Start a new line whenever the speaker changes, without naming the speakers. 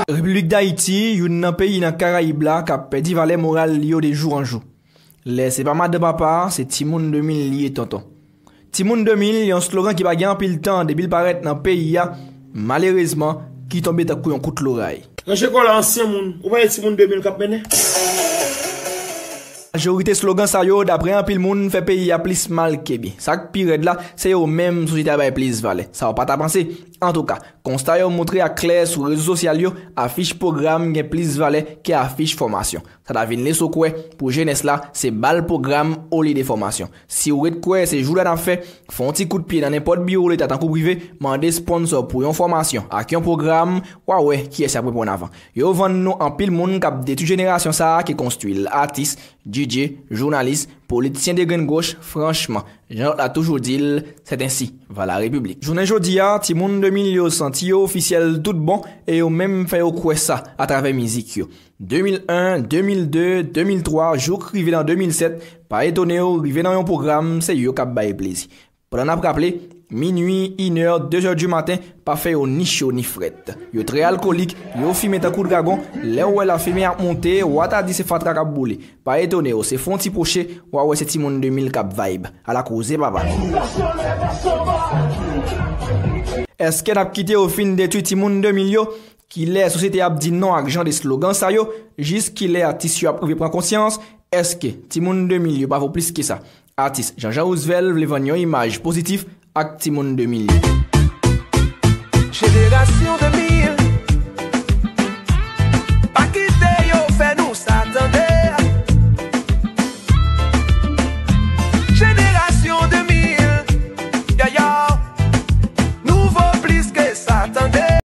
Repiblik Dayiti, youn nan peyi nan Karayib la k ap pèdi valè moral li yo de jou an jou. Lè se pa madan papa, se timoun 2000 li ye tonton. Timoun 2000, yon slogan ki pa gen anpil tan depi l parèt nan peyi a, Malerezman, ki tonbe tankou yon kout loray. Nan je kòlè ansyen
moun. Ou pa ye timoun 2000 k ap mennen?
Majorite slogan sa yo, daprè anpil moun, fè peyi a plis mal ke byen. Sa k pi rèd la, se yo menm sosyete a bay plis valè. Sa w pa ta panse? Antouka, konsta yo montre a klè sou rezo sosyal yo, afich pwogram gen plis valè ke afich fòmasyon. Sa ta vin leso kwè pou jenès la se bal pwogram olye de fòmasyon. Si ou ret kwè se jouda n ap fè, fè yon ti kout pye nan nenpòt biwo leta tankou prive, mande sponsò pou yon fòmasyon ak yon pwogram, w a wè kiyès y ap reponn avan. Yo vann nou anpil moun k ap detwi jenerasyon sa a ki konstwi l, atis, DJ, jounalis, politisyen degrenngwoch, franchman, jan lòt la toujou di l, c'est ainsi va la République. Jounen jodi a, timoun 2000 yo santi yo ofisyèl tout bon e yo menm fè yo kwè sa atravè mizik yo. 2001, 2002, 2003, jouk rive nan 2007, pa etone w, rive nan yon pwogram, se yo k ap bay plezi. Pandan n ap raple, minui, inè, dezè di maten, pa fè yo ni cho ni frèt. Yo trè alkolik, yo fimen tankou dragon, lè w wè lafimen ap monte, wa ta di se fatra k ap boule. Pa etone w, se fon ti pwoche, wa wè se timoun 2000 k ap vibe. Ala koze papa! Èske n ap kite yo fin detui timoun 2000 yo? Kilè sosyete a ap di non ak jan de slogan sa yo? Jis kilè atis yo ap rive pran konsyans? Eske timoun 2000 yo pa vo plis ke sa? Atis Jean Jean Roosevelt vle vann yon imaj pozitif ak timoun 2000 yo.
Jenerasyon 2000 Pa kite yo fè nou sa tande Jenerasyon 2000 Yo yo Nou vo plis ke sa tande.